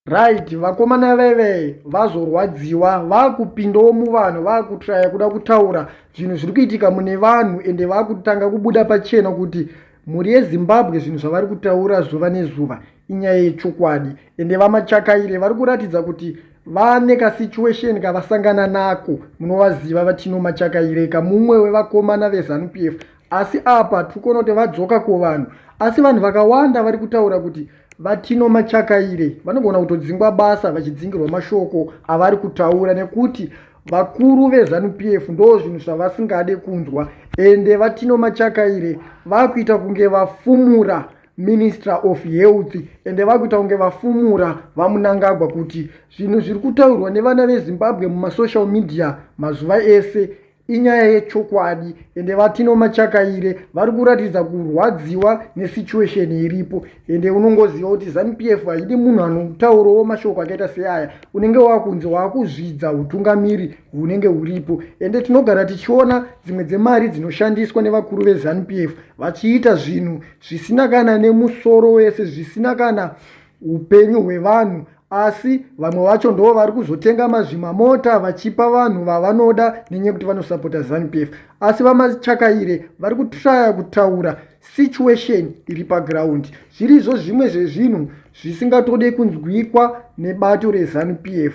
right vakomana veve vazorwadziwa vakupindawo muvanhu vakutraya kuda kutaura zvinhu zviri kuitika mune vanhu ende vakutanga kubuda pachena kuti mhuri yezimbabwe zvinhu zvavari kutaura zuva nezuva inyaya yechokwadi ende vamachakaire vari kuratidza kuti vane kasituation kavasangana nako munovaziva vatino machakaireka mumwe wevakomana vezanu p f asi apa tiri kuona kuti vadzoka kuvanhu asi vanhu vakawanda vari kutaura kuti vatino machakaire vanogona kutodzingwa basa vachidzingirwa mashoko avari kutaura nekuti vakuru vezanup f ndo zvinhu zvavasingade kunzwa ende vatino machakaire vakuita kunge vafumura minister of health ende vakuita kunge vafumura vamunangagwa kuti zvinhu zviri kutaurwa nevana vezimbabwe mumasocial media mazuva ese inyaya yechokwadi ende vatino machakaire vari kuratidza kurwadziwa nesituation iripo ende unongoziva kuti zanupf haidi munhu anotaurowo mashoko akaita seaya unenge wakunzi waakuzvidza utungamiri hunenge huripo ende tinogara tichiona dzimwe dzemari dzinoshandiswa nevakuru vezanupf vachiita zvinhu zvisina kana nemusoro wese zvisina kana upenyu hwevanhu asi vamwe vacho ndoo vari kuzotenga mazvimamota vachipa vanhu vavanoda nenyaya yekuti vanosapota zanupf asi vamachakaire vari kutraya kutaura situation iri paground zvirizvo zvimwe zvezvinhu zvisingatode kunzwikwa nebato rezanupf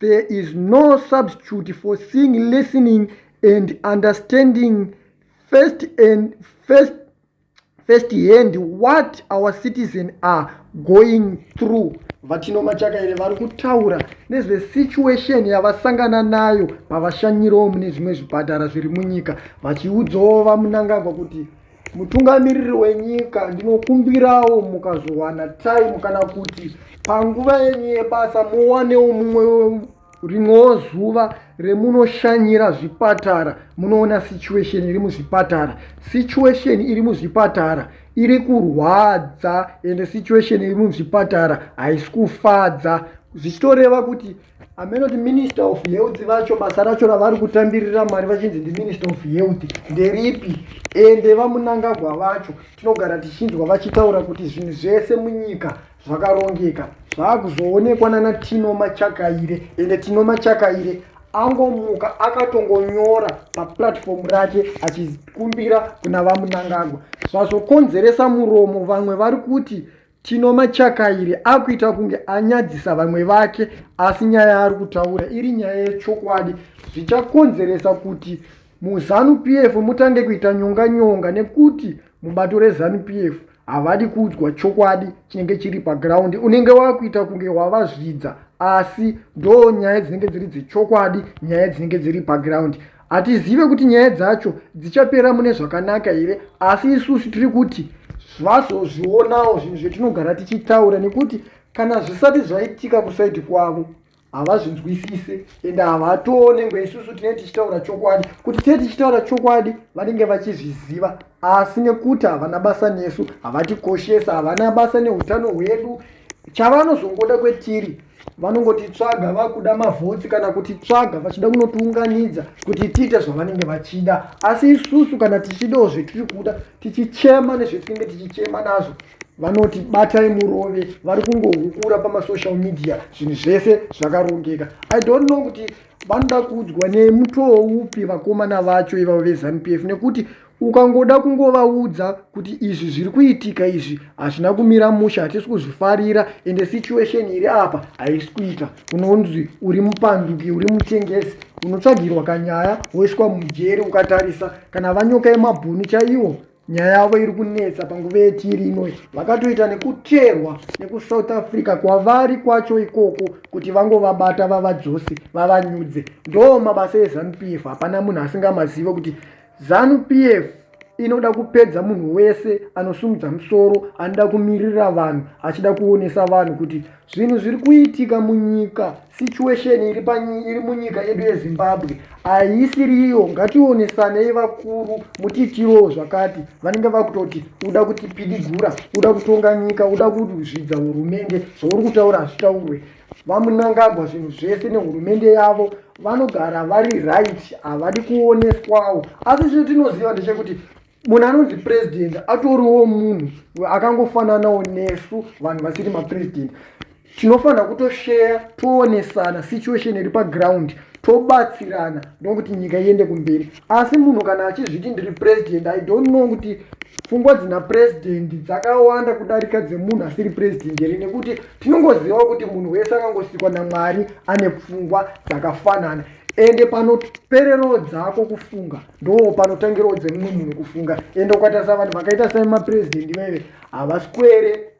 There is no substitute for seeing, listening and understanding first and first first hand what our citizen are going through vatino machakaire vari kutaura nezvesituation yavasangana nayo pavashanyirawo mune zvimwe zvipatara zviri munyika vachiudzawo vamunangagwa kuti Mutungamiriri wenyika, ndinokumbirawo mukazowana time kana kuti panguva yenyu yebasa muwanewo mumwe rimwewo zuva remunoshanyira zvipatara munoona situation iri muzvipatara situation iri muzvipatara iri kurwadza ende situation iri muzvipatara haisi kufadza zvichitoreva kuti ameno kuti minister of health vacho basa racho ravari kutambirira mari vachinzi ndiminister of health nderipi ende vamunangagwa vacho tinogara tichinzwa vachitaura kuti zvinhu zvese munyika zvakarongeka zvaakuzoonekwa nana tino machakaire ende tino machakaire angomuka akatongonyora paplatform rake achikumbira kuna vamunangagwa zvazokonzeresa muromo vamwe vari kuti Tino Machakairi akuita kunge anyadzisa vamwe vake asi nyaya yaari kutaura iri nyaya yechokwadi zvichakonzeresa kuti muzanu PF mutange kuita nyonga nyonga nekuti mubato rezanu PF havadi kuudzwa chokwadi chinenge chiri paground unenge wakuita kunge wavazvidza asi ndo nyaya dzinenge dziri dzechokwadi nyaya dzinenge dziri paground Hatizive kuti nyaya dzacho dzichapera mune zvakanaka here asi isusu tiri kuti vazozvionawo zvinhu zvetinogara tichitaura nekuti kana zvisati zvaitika kusaidi kwavo havazvinzwisise ende havatoone ngo isusu tinee tichitaura chokwadi kuti tee tichitaura chokwadi vanenge vachizviziva asi nekuti havana basa nesu havatikoshesa havana basa neutano hwedu chavanozongoda kwetiri vanongoti tsvaga vakuda mavhotsi kana kuti tsvaga vachida kunotiunganidza kuti tiite zvavanenge vachida asi isusu kana tichidawo zvetiri kuda tichichema nezvetinenge tichichema nazvo vanoti batai murove vari kungohukura pamasocial media zvinhu zvese zvakarongeka i don't know kuti vanoda kuudzwa nemutoo upi vakomana vacho ivavo vezanu p f nekuti Ukangoda kungovaudza kuti izvi zviri kuitika izvi hazvina kumira mushe hatisi kuzvifarira ende situation iri apa haisi kuita unonzi uri mupanduki uri mutengesi unotsvagirwa kanyaya woiswa mujeri ukatarisa kana vanyoka yemabhunu chaiwo nyaya yavo iri kunetsa panguva yetiri inoi vakatoita nekuterwa nekusouth africa kwavari kwacho ikoko kuti vangovabata vavadzose vavanyudze ndo mabasa ezanupf hapana munhu asingamazive kuti Zanu PF inoda kupedza munhu wese anosumudza musoro anoda kumirira vanhu achida kuonesa vanhu kuti zvinhu zviri kuitika munyika situation iri, iri munyika yedu yezimbabwe haisiriyo ngationesanei vakuru mutiitirowo zvakati vanenge vakutoti uda kutipidigura uda kutonga nyika uda kuzvidza hurumende zvauri kutaura hazvitaurwe vamunangagwa zvinhu zvese nehurumende yavo vanogara vari right havadi kuoneswawo asi chino tinoziva ndechekuti munhu anonzi president atoriwo munhu akangofananawo nesu vanhu vasiri mapresident tinofanira kutosheya toonesana situation iri paground tobatsirana ndokuti nyika iende kumberi asi munhu kana achizviti ndiri president i don't know kuti pfungwa dzina president dzakawanda kudarika dzemunhu asiri president here nekuti tinongozivawo kuti munhu wese akangosikwa namwari ane pfungwa dzakafanana ende panopererawo dzako kufunga ndo panotangirawo dzemumwe munhu kufunga ende ukatarisa vanhu vakaita samaprezidendi vaive havaswere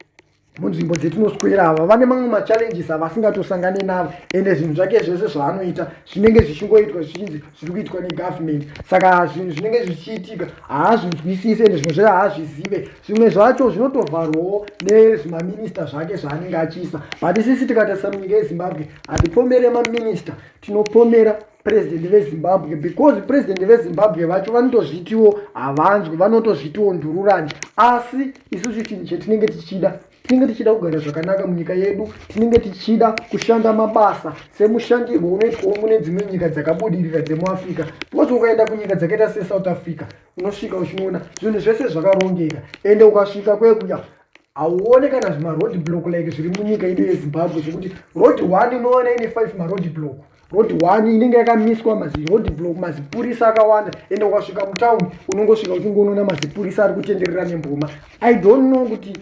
munzvimbo dzetinoswera ava vane mamwe machallenges avasingatosangane navo ende zvinhu zvake zvese zvaanoita zvinenge zvichingoitwa zvichinzi zviri kuitwa negovernment saka zvinhu zvinenge zvichiitika haazvinzwisise ende zvimwe zvacho haazvizive zvimwe zvacho zvinotovharwawo nezvimaminista zvake zvaanenge achiisa but sisi tikatarisira munyika yezimbabwe hatipomere maminista tinopomera president vezimbabwe because president vezimbabwe vacho vanotozvitiwo havanzwi vanotozvitiwo ndururani asi isusu chinhu chetinenge tichida tinenge tichida kugara zvakanaka munyika yedu tinenge tichida kushanda mabasa semushandirwo unoitwawo mune dzimwe nyika dzakabudirira dzemuafrica because ukaenda kunyika dzakaita sesouth africa unosvika uchinoona zvinhu zvese zvakarongeka ende ukasvika kwekuya hauone kana zvimaroad block like zviri munyika ino yezimbabwe zvekuti road one inoona ine five maroad block road one inenge yakamiswa maziroad block mazipurisa akawanda ende ukasvika mutown unongosvika uchingonoona mazipurisa ari kutenderera nemboma i don't know kuti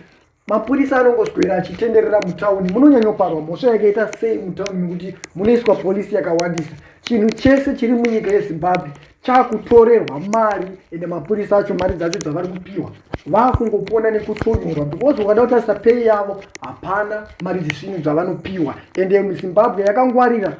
mapurisa anongoswera achitenderera mutauni munonyanyoparwa mhosva yakaita sei mutauni nekuti munoiswa polisi yakawandisa chinhu chese chiri munyika yezimbabwe chakutorerwa mari ende mapurisa acho mari dzacho dzavari kupiwa vakungopona nekutonyorwa because ukada kutarisa pei yavo hapana mari dzisini dzavanopiwa ende muzimbabwe yakangwarira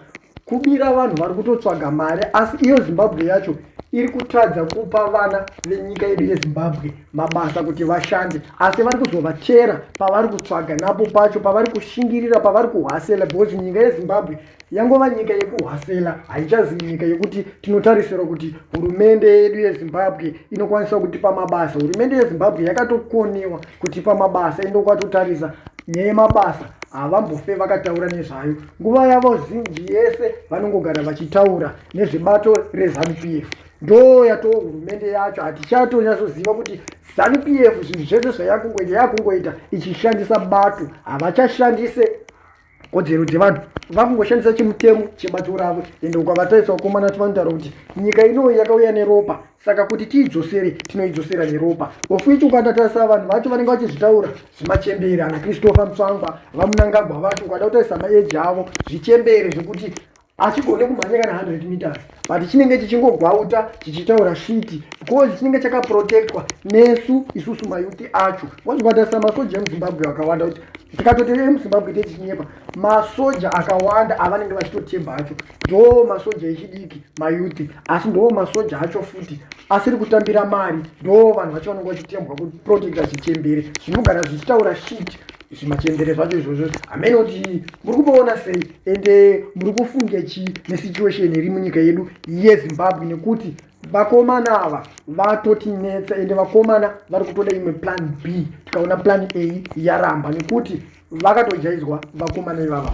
kubira vanhu vari kutotsvaga mari asi iyo zimbabwe yacho iri kutadza kupa vana venyika yedu yezimbabwe mabasa kuti vashande asi vari kuzovachera pavari kutsvaga napo pacho pavari kushingirira pavari kuhasela because nyika yezimbabwe yangova nyika yekuhwasela haichazi nyika yekuti tinotarisirwa kuti hurumende yedu yezimbabwe inokwanisa kutipa mabasa hurumende yezimbabwe yakatokoniwa kutipa mabasa ende ukatotarisa nyaya yemabasa havambofe vakataura nezvayo nguva yavo zinji yese vanongogara vachitaura nezvebato rezanup f ndo yatoo hurumende yacho hatichatonyatsoziva kuti zanup f zvinhu zvese zvayakungoita yakungoita ichishandisa bato havachashandise kodzero dzevanhu vakungoshandisa chimutemo chebato ravo ende ukavataisa vakomana vacho vanotaura kuti nyika inoyi yakauya neropa saka kuti tiidzosere tinoidzosera neropa ofuichi ukatatarisa vanhu vacho vanenge vachizvitaura zvimachembere ana christopher mtswangwa vamunangagwa vacho ukada kutaisa maeji avo zvichembere zvekuti achigone kumhanya kana 100 meters but chinenge chichingogwauta chichitaura shiti because chinenge chakaprotectwa nesu isusu mayuti acho wazvikubatarisa masoja emuzimbabwe akawanda kuti tikatoti emuzimbabwe techinyepa masoja akawanda avanenge vachitotemba acho ndoo masoja echidiki mayuti asi ndoo masoja acho futi asiri kutambira mari ndoo vanhu vacho vanenge vachitembwa kuprotecta chichembere zvinogara zvichitaura shiti zvimachembere zvacho izvozvo hameno kuti muri kumboona sei ende muri kufunge chii nesituation iri munyika yedu yezimbabwe nekuti vakomana ava vatotinetsa ende vakomana vari kutoda imwe plan b tikaona plan a yaramba nekuti vakatojaizwa vakomana ivava